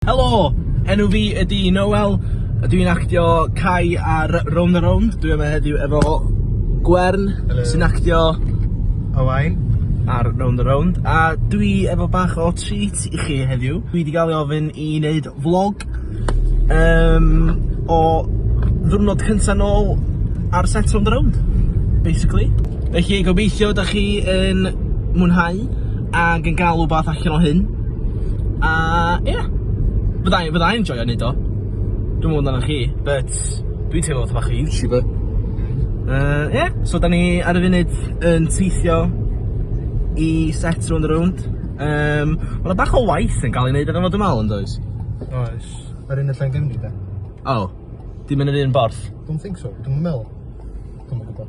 Helo! Enw fi ydi Noel, a dwi'n actio Cai ar Rownd a Rownd. Dwi yma heddiw efo Gwern... Helo. ...sy'n actio... Owain. ...ar Rownd a Rownd, a dwi efo bach o treat i chi heddiw. Dwi 'di ga'l ei ofyn i neud vlog yym o ddiwrnod cynta nôl ar set Rownd a Rownd, basically. Felly gobeithio 'dach chi yn mwynhau ag yn ga'l wbath allan o hyn. A ie, yeah. fydda i, fydda i'n joio neud o. Dwi'n mwyn dan chi, but dwi'n teimlo fatha bach o YouTuber. Uh, ie, yeah. so da ni ar y funud yn teithio i set round the round. Um, Mae'n bach o waith yn cael ei wneud ar ymwneud ymwneud yn does? Oes. Yr un y llen gymryd e? O, dim yn yr un borth? Don't think so, dwi'n meddwl. Dwi'n meddwl.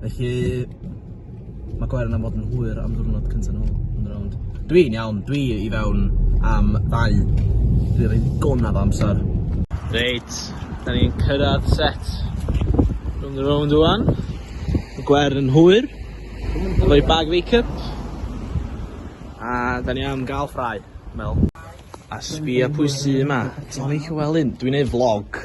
Felly, mae Gwern am fod yn hwyr am ddwrnod cyntaf nhw yn y rownd. Dwi'n iawn, dwi i fewn am ddau. Dwi'n rhaid gonaf o amser. Reit, da ni'n cyrraedd set rhwng y rownd o'n. Mae Gwern yn hwyr. Efo'i bag make-up. A da ni am gael ffrau, mel. A sbia pwy sy yma. Ti moyn Llewelyn? Dwi'n ei vlog.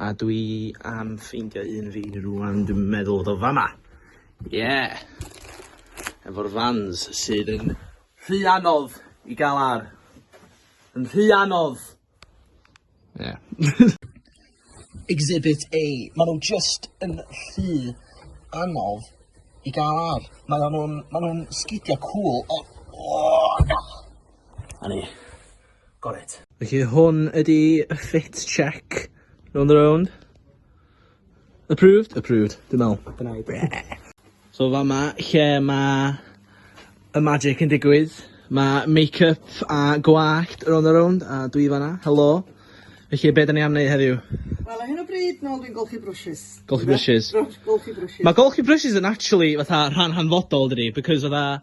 A dwi am ffeindio un fi rwan, dwi'n meddwl fod o fama. Yeah! Efo'r fans sydd yn rhy anodd i gael ar. Yn rhy anodd! Yeah. Exhibit A. Mae nhw just yn rhy anodd i gael ar. Mae nhw'n ma nhw sgidiau cŵl, ond... Oh, na! A ni. Got it. Felly hwn ydi y fit check. Round and round. Approved? Approved. Dwi'n meddwl. Dyna i. So fama lle mae y magic yn digwydd. Mae make-up a gwallt round and round a dwi fanna. Helo. Felly be' 'dan ni am neud heddiw? Wel ar hyn o bryd nôl dwi'n golchi brwshys. Golchi brwshys. Golchi brwshys. Mae golchi brwshys yn actually fatha rhan hanfodol dydi because fatha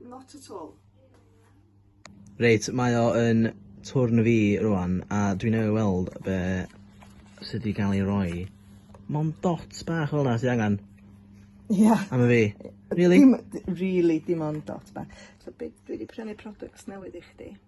Not at all. Reit, mae o yn twrn fi rwan, a dwi newydd weld be sydd wedi cael ei roi. Mond dots bach fel yna sydd angen. Ia. Am y fi. Really? Dim, really, dim ond dots bach. So be, dwi wedi prynu products newydd i chdi.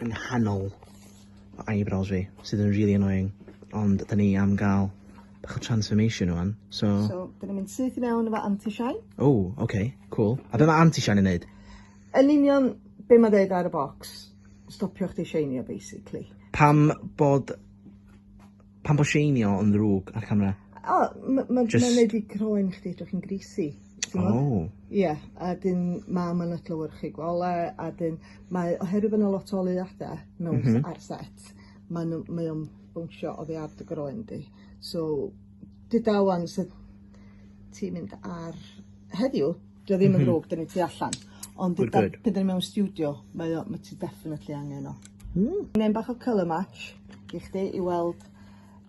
yng nghanol fy eyebrows fi, sydd yn rili annoying, ond 'da ni am ga'l bach o transformation rŵan, so... So, 'da ni'n mynd syth i fewn efo anti-shine. O, oce, cŵl. A be' ma' anti-shine yn neud? Yn union be' ma'n ddeud ar y bocs, stopio chdi sheinio basically. Pam bod Pam bod sheinio yn ddrwg ar camera? O ma' ma' Jyst... ma'n neud i croen chdi edrych yn greasy. T'mod? O! Ie a 'dyn ma' ma'n adlewyrchu gole a 'dyn mae oherwydd bo' 'na lot o oleuada mewn... M-hm. ...ar set ma' n'w mae o'n bownsio oddi ar dy groen di so dudalen sy ti'n mynd ar heddiw 'Di o ddim yn ddrwg 'dan ni tu allan. Ond pan 'dan ni mewn stiwdio mae o ma' ti definitely angen o. Hmm. Gnên bach o colour match i chdi i weld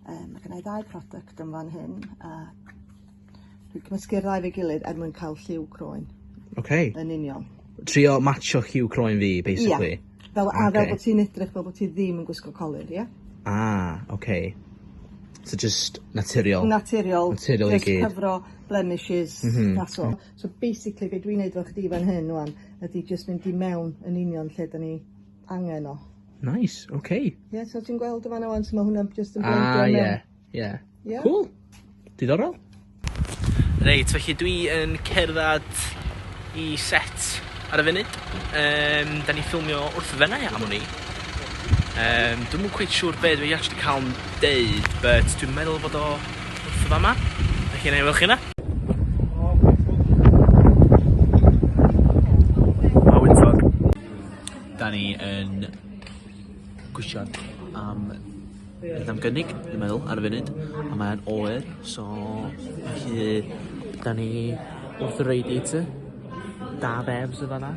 yy ma' gynnai ddau product yn fan hyn a dwi cymysgu'r ddau 'fo'i gilydd er mwyn ca'l lliw croen. Oce. Yn union. Trio matsio lliw croen fi basically? Ia. Fel a fel bo' ti'n edrych fel bo' ti ddim yn gwisgo colur ia? Ah oce. So jyst naturiol? Naturiol. Naturiol i gyd. Jyst cyfro blemishes that's all. So basically be' dwi'n neud efo chdi fan hyn ŵan ydi jyst mynd i mewn yn union lle 'dan ni angen o. Nice, ok. Ie, so ti'n gweld yn fan 'na ŵan su' ma' hwnna jyst yn blendio mewn? Ah ie, ie. Ie? Cŵl. Diddorol. Reit, felly dwi yn cerddad i set ar y funud. Yym, 'dan ni'n ffilmio wrth Fenai am wn i. Yym, dwi'm yn cweit siŵr be' dwi actually ca'l 'n deud but dwi'n meddwl fod o wrth y fama. Dych chi'n ei weld chi yna? Da ni yn gwisio am beth am gynnig, dwi'n meddwl, ar y funud. A mae'n oer, so felly da ni wrth y radiator. Da fefs y fanna.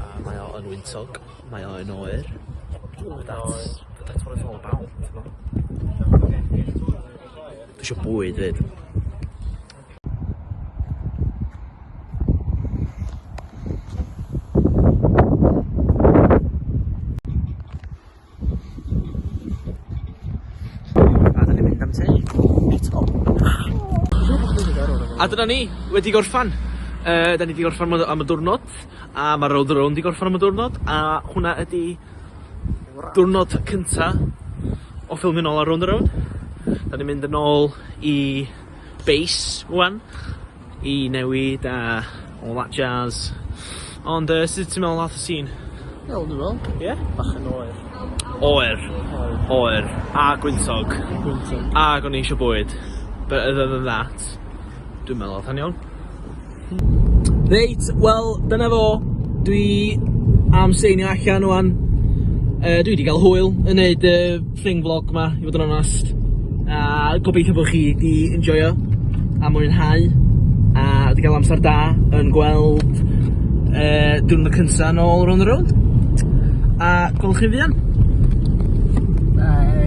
A mae o yn wyntog, mae o yn oer. That's that's what it's all about t'mo'? Dwi isio bwyd 'fyd. A dyn ni'n mynd am te. A dyna ni, wedi gorffan. Uh, da ni wedi gorffan am y diwrnod, a mae'r road around wedi gorffan am y diwrnod, a hwnna ydy diwrnod cynta o ffilmio'n ôl ar round around. Da ni'n mynd yn ôl i base, wan. i newid a all that jazz. Ond yy sut ti'n meddwl ath y sîn? Iawn dwi me'wl. Ie? Bach yn oer. Oer. Oer. Oer. A gwyntog. Gwyntog. Ag o'n i eisio bwyd. But other than that dwi'n meddwl ath o'n iawn. Reit wel dyna fo. Dwi am seinio allan ŵan. Yy dwi 'di ga'l hwyl yn neud y thing vlog ma i fod yn onast a gobeithio bod chi di enjoyo a mwynhau a wedi cael amser da yn gweld uh, diwrnod cynta yn ôl round the road a gwelwch chi fuan Bye.